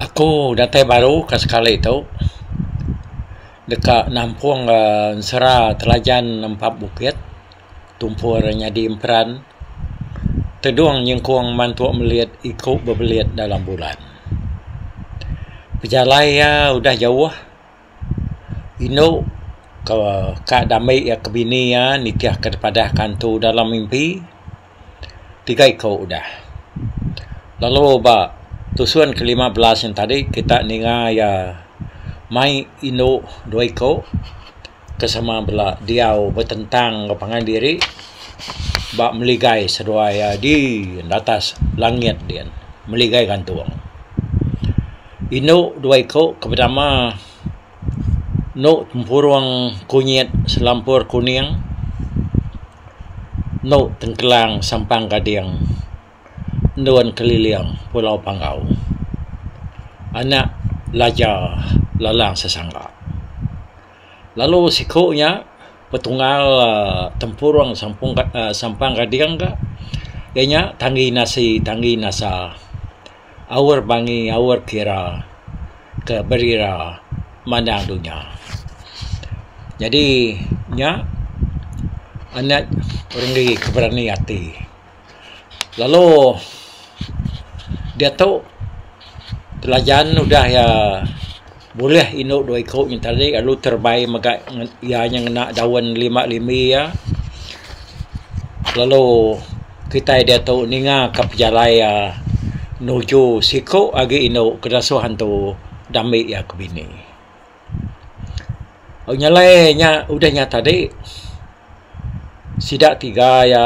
Aku datai baru ka sekali tu deka nampung uhh ensera telajan nempa bukit tumpu ira nyadi emperan tedung nyengkung mantu melit iku bebelit dalam bulan. Pejalai iya udah jauh indu ka dame iya ke bini iya nitihka da padah kantu dalam mimpi. tiga iko udah. Lalu ba tusun ke lima belas yen tadi kita ninga iya mai indu dua iko ke sama bala diau betentang enggau pangan diri ba meligai seduai iya di atas langit diyen meligai gantung. Indu dua iko ke betama endo tempurung kunyit selampur kuning endu tengkelang sampang gading endun keliling pulau panggau anak laja lalang sesangga lalu siku nya betungal tempurung sampang gading ka iya nya tanggi nasi tanggi nasa. aur bangi aur kira ke berira mandang dunya. Nyadi nya anak orang agi ke berani ati. Lalu diatu telajan udah iya Bulih indu dua iku nya tadi lalu terebai mega iya nya ngena daun lima limi iya lalu kitai diatu ninga ka pejalai iya nuju siku agi indu ke disuh antu dami iya ke bini. Nyelai nya udah nya tadi sida tiga iya.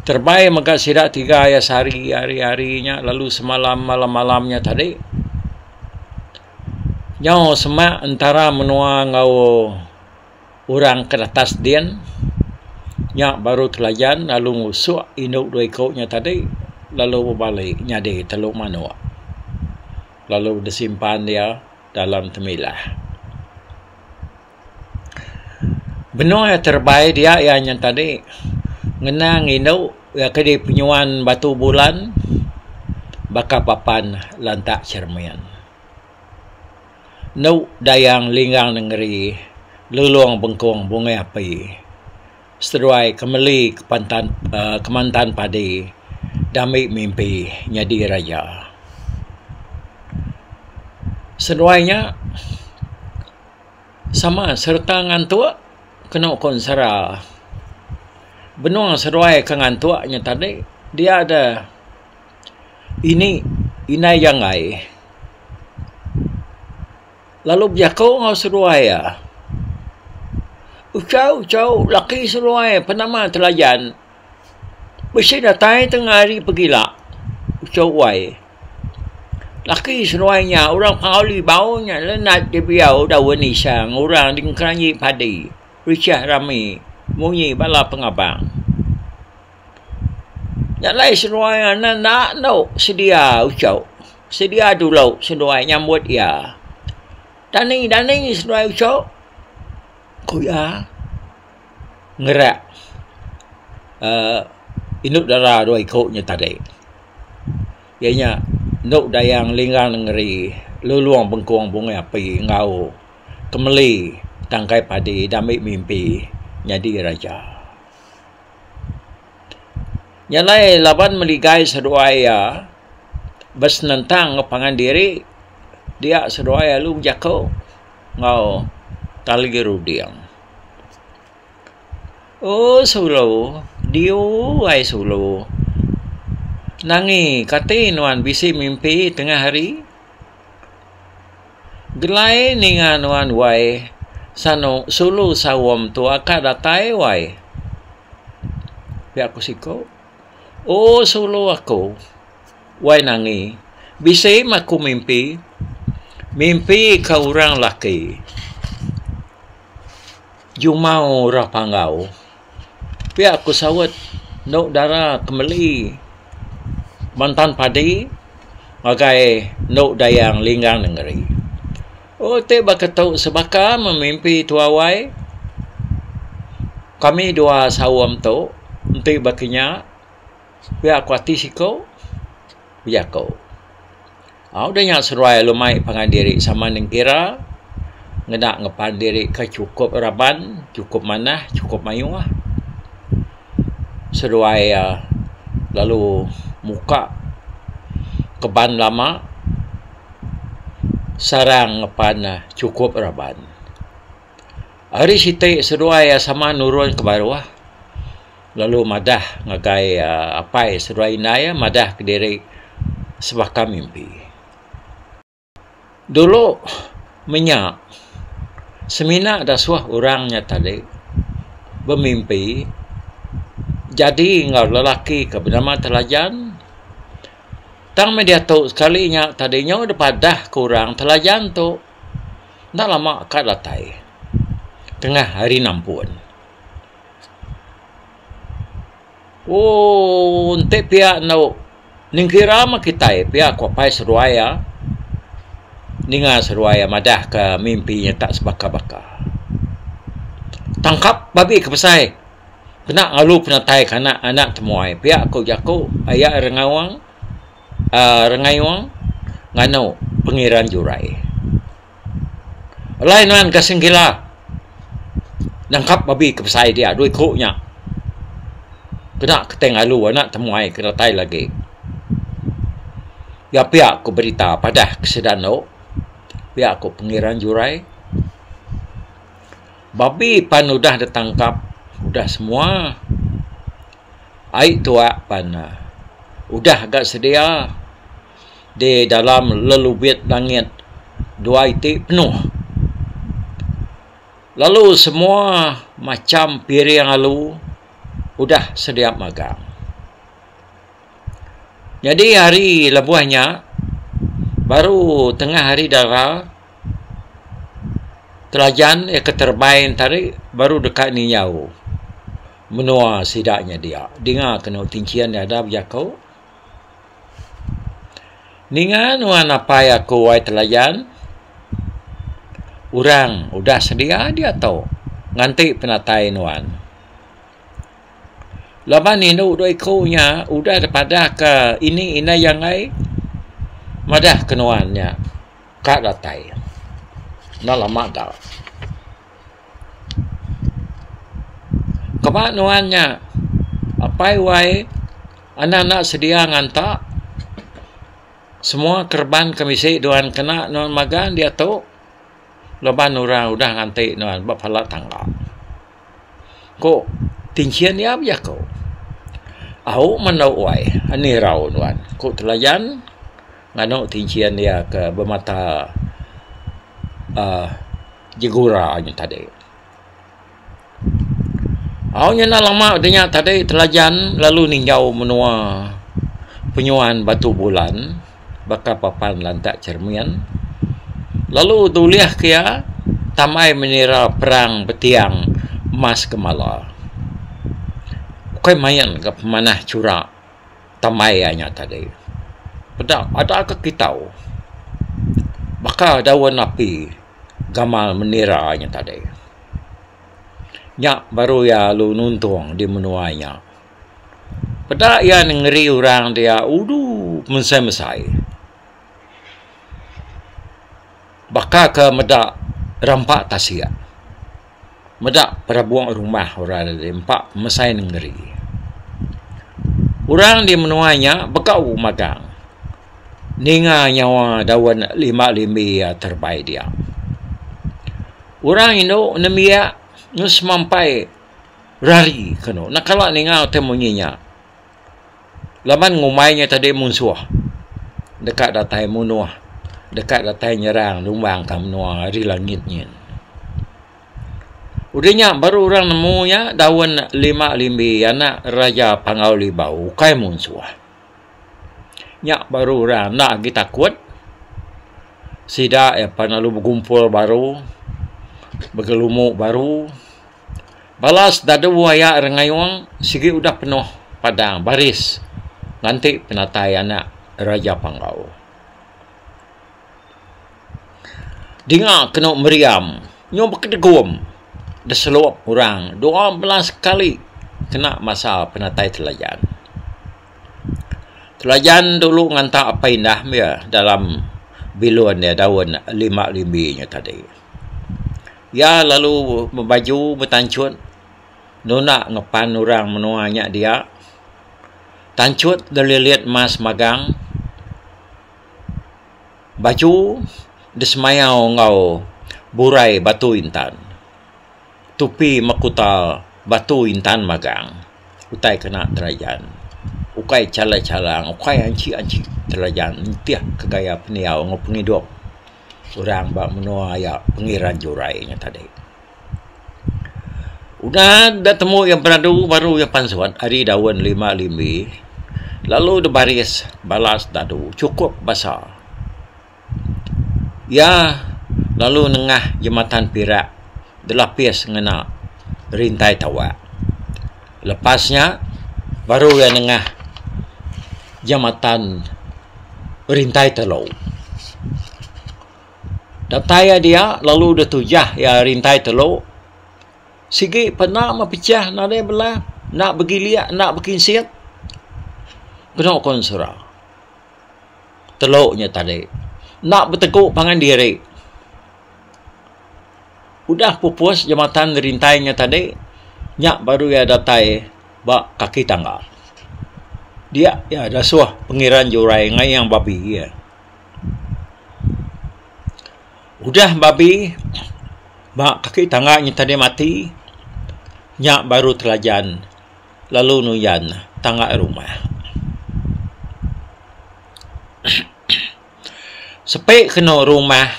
Terbai mega sida tiga iya sehari hari-hari nya lalu semalam malam-malam nya tadi. Nyau semak entara menua enggau orang ke retas din nya baru telajan lalu ngusuk indu dua iku nya tadi lalu bebali nyadi telu manuk lalu disimpan iya dalam temilah. Benung iya terebai dia iya nya tadi ngena ngindu iya ke di penyuan Batu Bulan baka papan lantak cermin. Enu Dayang Linggang Nengeri Lulong Bengkong Bungai Api seduai Kemeli Kepantan aaa Kemantan Padi Dami Mimpi Nyadi Raja. Seduai nya Sama sereta ngantuk kena uko ensera. Benung seduai ke ngantuk nya tadi dia da ini indai janggai lalu bejako enggau seduai iya. Uchau chau laki seduai pe nama telajan bisi datai tengah hari pegila uchu uai. Laki seduai nya orang Pengawa Libau nya lenak dibiau daun nisang orang di Kelanyi Padi. Richah rami munyi bala pengabang. Nya alai seduai enda endu sedia uchu, sedia dulu seduai nyambut iya. Dani dani seduai uchu ku iya ngerak indu dara dua iku nya tadi. Iya nya endu dayang linggang nengeri lulong bengkong bungai api enggau kemeli tangkai padi diambi mimpi nyadi raja. Nya alai laban meligai seduai iya besenentang enggau pangan diri dia seduai lalu bejaku enggau tali runding. Ooh sulu diu ai sulu nangi kati nuan bisi mimpi tengah hari gelai ninga nuan wai sanu sulu saum tu aka datai wai pia ku siko ooh sulu aku wai nangi bisi mah aku mimpi mimpi ka orang laki. Jumau orang panggau pia ku saut endo dara ke meli mantan padi ngagai endo dayang linggang nengeri. Oh ti baka tu sebaka meh mimpi tuai wai kami dua saum tu enti baka nya pia ku ati siko ku jaku. Au udah nya seruai alu mai pangan diri sama nengkira ngena ngeban diri ke chukup raban, chukup manah, chukup mayuh. Seruai iya lalu muka keban lama sarang ngeban chukup raban. Ari siti seduai iya sama nurun ke baruh lalu madah ngagai uhh apai seduai indai iya madah kediri sebaka mimpi. Dulu menya semina dasuh orang nya tadi bemimpi jadi enggau lelaki ke benama Telajan tang meh diatu sekali nya tadi nyau deba dahka orang Telajan tu. Enda lama ka datai, tengah hari nampun. Ooh, enti pia endo nengkira meh kitai pia ko pai seduai iya. Ninga seduai iya madah ke mimpi iya tak sebaka-baka. Tangkap babi ke besai kena ngalu penatai ke anak-anak temuai pia ko jaku aya Rengaung. Rengayong nganu pengeran jurai. Alai nuan ke Singkila nangkap babi ke besai dia dua iku nya kena ke tai ngalu anak temuai ke datai lagi. Iya pia ku berita padah ke sida anu pia ku pengeran jurai babi pan udah ditangkap udah semua. Ai tuak pan udah ga sedia di dalam lelubit langit dua iti penuh lalu semua macham piring alu udah sedia magang. Nyadi hari lebuh nya baru tengah hari dara telajan iya ke terbain tadi baru deka niau. Menua sida nya dia. Dinga kenu tinchin dada bejaku. Ninga nuan apai aku ai telayan. Orang udah sedia diatu nganti penatai nuan. Laban indu dua iku nya udah dipadahka ini inai angai madah ke nuan nya ka datai. Enda lama da. Kema nuan nya apai wai anda enda sedia nganta semua kereban ke bisi nuan kena nuan magang diatu laban orang udah nganti nuan ba pala tangga. Ku tinchin iya bejaku. Au menu wai anih irau nuan ku telayan nganu tinchin iya ke bemata uhh Jigura nya tadi. Au nya enda lama udah nya tadi Telajan lalu ninggau menua penyuan Batu Bulan baka papan lantak cermin lalu dulih ke iya tamai menira perang betiang Mas Gemala. Ukai main ga pemanah chura. Temai iya nya tadi. Peda adakka kita baka daun api gamal menira nya tadi. Nya baru iya lalu nuntung di menua nya. Peda iya nengeri orang dia udu mesai-mesai. Baka ke meda rampa tasik, meda perabung rumah orang da diri empa pemesai nengeri. Orang di menua nya begau magang ninga nyawa daun limba limbi iya terebai dia. Orang indu nembiak ngan semampai rari ke anu. Enda kala ninga utai munyi nya. Laban ngumbai nya tadi munsuh deka datai munuh, deka datai nyerang numbangka menua ari langit nyin. Udah nya baru orang nemu nya daun lima limbi anak Raja Pangau Libau ukai munsuh. Nya baru orang enda agi takut. Sida iya pan lalu begumpul baru, begelumu baru. Balas dadu aya Rengayong sigi udah penuh padang baris nganti penatai anak Raja Panggau. Dinga kenu meriam nyau bekedegum deselup orang dua belas kali kena masa penatai Telajan. Telajan dulu nganta Apai Indah meh dalam bilun iya daun lima limbi nya tadi. Iya lalu bebaju betanchut nunda ngepan orang menua nya dia. Tanchut delilit emas magang. Baju disemayau enggau burai batu intan. Tupi mekuta batu intan magang utai kena telajan. Ukai chalang-chalang, ukai anchi-anchi telajan nitih ke gaya pendiau enggau pengidup. seorang ba menua iya pengeran jurai nya tadi. Udah da temu iya beradu baru iya pansut ari daun lima limbi lalu da baris bala sedadu chukup basa. Iya lalu nengah jematan pirak dilapis ngena rintai tawak. Lepas nya, baru iya nengah jamatan Rintai Telo. Datai iya dia, lalu deh tujah iya Rintai Telo. Sigi pena mepechah nadai bela, enda begilik, enda bekinsit. Kenu ku ensura. Telo nya tadi. Enda betegu pangan diri. Udah pupus jematan rintai nya tadi, nya baru iya datai ba kaki tangga. Dia iya dasuh pengeran jurai ngayang babi iya. Udah babi ba kaki tangga nya tadi mati, nya baru telajan lalu nuyan tangga rumah. Sepi kenu rumah.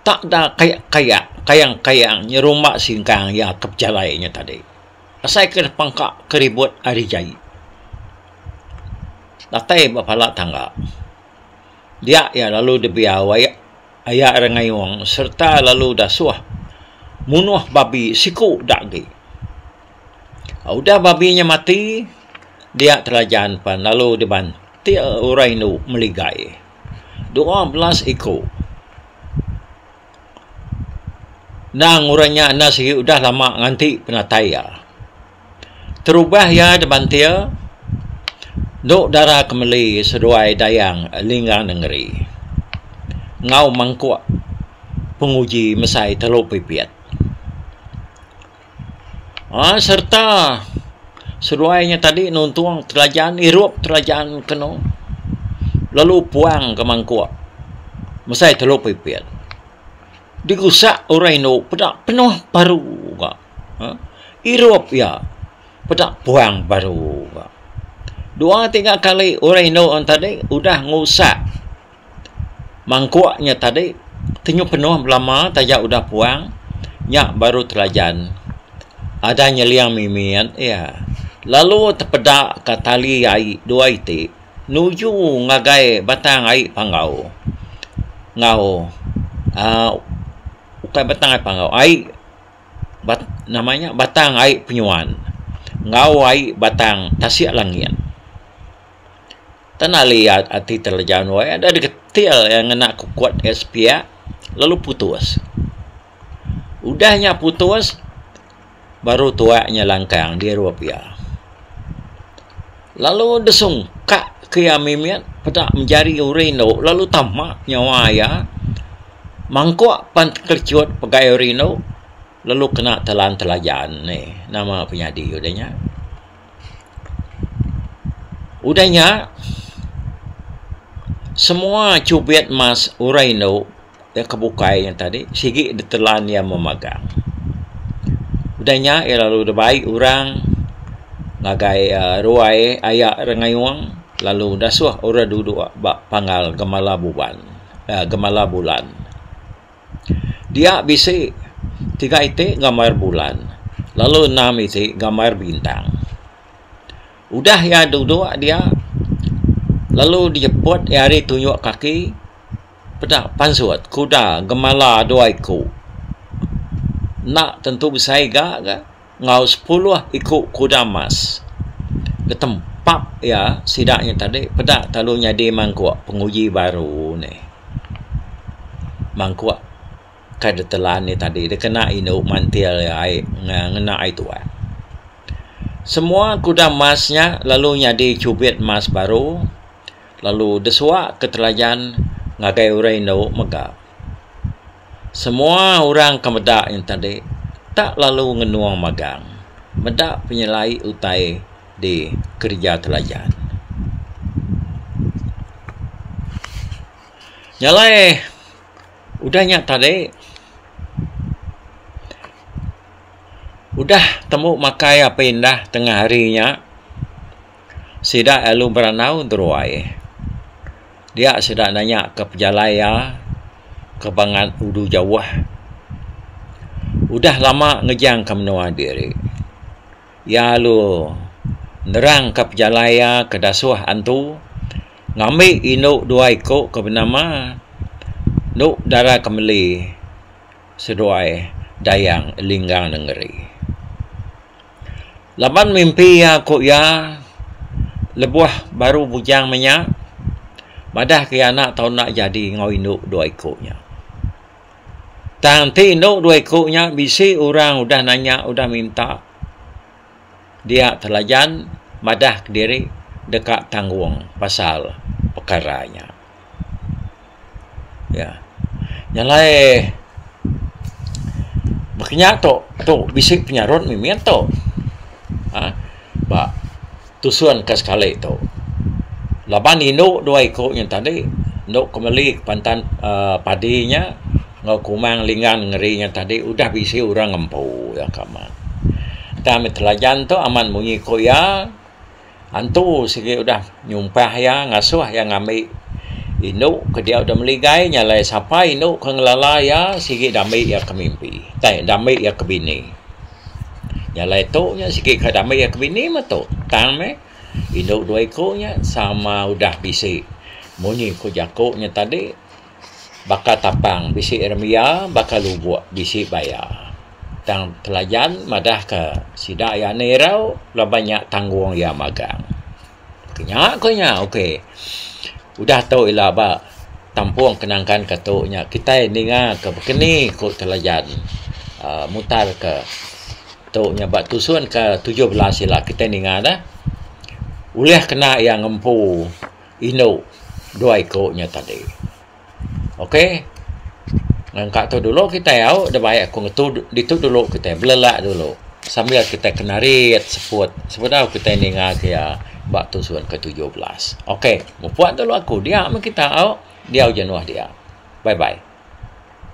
Tak da kaya-kaya kayang-kayang nyerumba singkang iya ke pejalai nya tadi. Asai ke nepangka ke ribut ari jai. Datai ba pala tangga. Dia iya lalu debiau ai aya rengayung sereta lalu dasuh munuh babi siku da agi. Udah babi nya mati, dia Telajan pan lalu dibantil orang indu meligai. dua belas iku. Endang orang nya enda sigi udah lama nganti penatai iya. Terubah iya di bantir endu dara ke meli seduai dayang Lingga Nengeri enggau mangkuk penguji mesai telu pipit. Aaa sereta seduai nya tadi nuntung kerajaan irup kerajaan kenu lalu puang ke mangkuk mesai telu pipit digusak orang indu peda penuh paru ka aaa irup iya peda puang paru ka dua tiga kali orang indu tadi udah ngusak mangkuk nya tadi tenyu penuh belama taja udah puang nya baru telajan ada nyeling mimit iya lalu tepeda ka tali ai dua iti nuju ngagai batang ai panggau enggau um ukai batang ai panggau ai bat nama nya batang ai penyuan enggau ai batang tasik langit. Tenali ati teleja nuai ada digetil iya ngena kukut iya sepiak lalu putus. Udah nya putus baru tuak nya langkang dirup iya. Lalu disungkak ke iya mimit peda menjari uri endo lalu tama nyawa iya mangkuk pan tekelichut pegai uri endo lalu kena telan telajan ni nama penyadi udah nya. Udah nya, semua chubit mas orang indu da ke bukai nya tadi sigi ditelan iya memagang. Udah nya iya lalu da bai orang ngagai uhh ruai aya Rengayong lalu dasuh orang duduk ba panggal Gemala Buban uhh Gemala Bulan. Dia bisi tiga iti gambar bulan lalu enam iti gambar bintang. Udah iya duduk dia lalu dijeput iya ari tunjuk kaki peda pansut kuda gemala dua iku. Enda tentu besai ga ga. enggau sepuluh iku kuda emas. Betempap iya sida nya tadi peda lalu nyadi mangkuk penguji baru ni. Mangkuk ke ditelan iya tadi dikena indu mantil iya ai ngena ai tuai. Semua kuda emas nya lalu nyadi chubit emas baru lalu disuak ke telajan ngagai orang indu mega. Semua orang ke meda nya tadi tak lalu ngenung magang meda penyelai utai di kereja telajan. Nya alai udah nya tadi udah tembu makai api indah tengah hari nya Sida alu beranau entu ruai. Dia sida nanya ke pejalai iya ke bangat udu jauh. Udah lama ngejang ke menua diri. Iya alu nerang ke pejalai iya ke dasuh antu ngambi indu dua iku ke benama endu dara ke meli seduai Dayang Linggang Nengeri. Laban mimpi iya ku iya lebuh baru bujang menya madah ke iya anak tau enda jadi enggau indu dua iku nya. Tang ti indu dua iku nya bisi orang udah nanya udah minta dia telajan madah kediri deka tanggung pasal pekara nya. Ya. Yang alai baka nya tu tu bisi penyarut mimi tu. Ha ba tusun ka sekali tu. Laban indu dua iku nya tadi enda ke meli pantan aaa padi nya enggau kumang linggang ngeri nya tadi udah bisi orang ngempu iya ka amat. Tang telajan tu amat munyi ku iya Antu sigi udah nyumpah iya ngasuh iya ngambi indu ke dia udah meligai nya alai sapa indu ke ngelala iya sigi dambi iya ke mimpi ai dambi iya ke bini. Nya alai tu nya sigi ka dambi iya ke bini meh tu tang meh indu dua iku nya sama udah bisi. Munyi ku jaku nya tadi. baka tapang bisi remiya baka lubok bisi baya. Tang pelajan madah ka sida iya enda irau laban nya tanggung iya magang. Ku nya ku nya ok udah tu ila ba tampung kenangkan ka tu nya kitai ninga ka bekeni ku telajan uhh mutar ka tu nya ba tusun ka tujuh belas ila kitai ninga dah ulih kena iya ngempu. Indu dua iku nya tadi. Ok. Nangka tu dulu kitai au da bai aku ngetu ditu dulu kitai belelak dulu sambil kitai kenarit seput sebedau kitai ninga ke iya ba tusun ke tujuh belas. Ok. Mupuk dulu aku. Dia meh kita au. Diau jenuh dia. Bye bye.